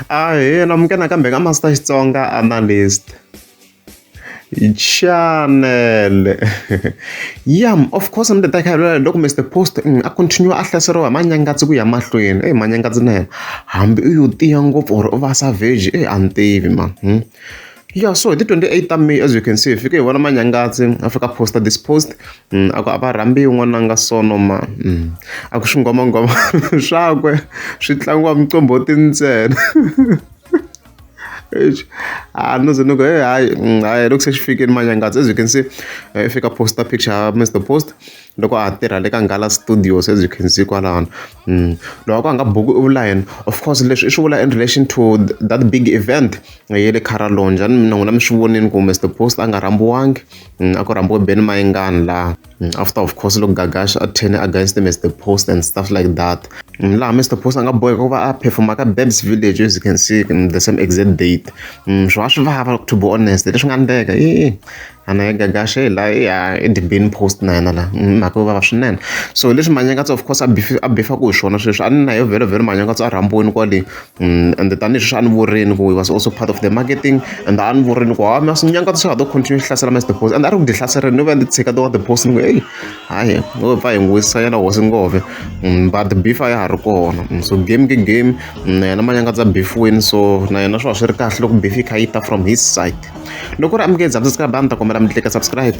Ahee na minka nakambe ka Master Xitsonga Analyst. Chanele ya of course ni ta khavela loko Mister Post a continue a hlaseriwa hi manyangatsi ku ya mahlweni eyi manyangatsi na yena hambi u yo tiya ngopfu or u va savage eyi a ni tivi ma ya so hi ti twenty eight ta May as you can see hi fike hi vona manyangatsi a fika a post-a this post. a ku a va rhambiwi n'wana a nga sono mhani a ku swinghwamanghwama swakwe swi tlangiwa muqombhoti ntsena a no ze ni ku he hayi hayi loko se xi fikile manyangadzo as you can see i fika posta picture mr post loko a ha tirha le ka nghala studios as you can see kwalano loko a ku a nga buku i vula yena of course leswi i swi vula in relation to that big event ye le carolong njhani na n'wina mi swi vonile ku mr post a nga rhambiwangi. Mm, a ku rhambiwe Benny Mayengani laha mm, after of course loko Gagash a turn against Mr Post and stuff like that mm, laha Mr Post a nga boheka ku va a performa ka Babs Village as you can see the same exact date swi va swi vava to be honest leswi nga endleka i ana ya Gagash e la ya i the Benny Post na yena la mhaka yo vava swinene so leswi Manyangatsa of course a bifa ku hi swona sweswi a ni na yo vhelo vhelo Manyangatsa a rhambiweni kwale ende tanihi sweswi a ni vurimi ku he was also part of the marketing and a ni vurimi ku ha mi swi nyangata swa ha to continue swi hlasela must deposit and a ri ku ti hlaserile no va ndzi tshika to wa deposit ni ku heyi hayi ngo pfa hi n'wi wisisa yena hosi ngove mm, but beef a ya ha ri kona mm, so game ke game mm, na yena manyangatsa beefweni so na yena swi va swi ri kahle loko beef yi kha yi ta from his side loko ri amukele dzabyi sika bani ta kombela mi tlika subscribe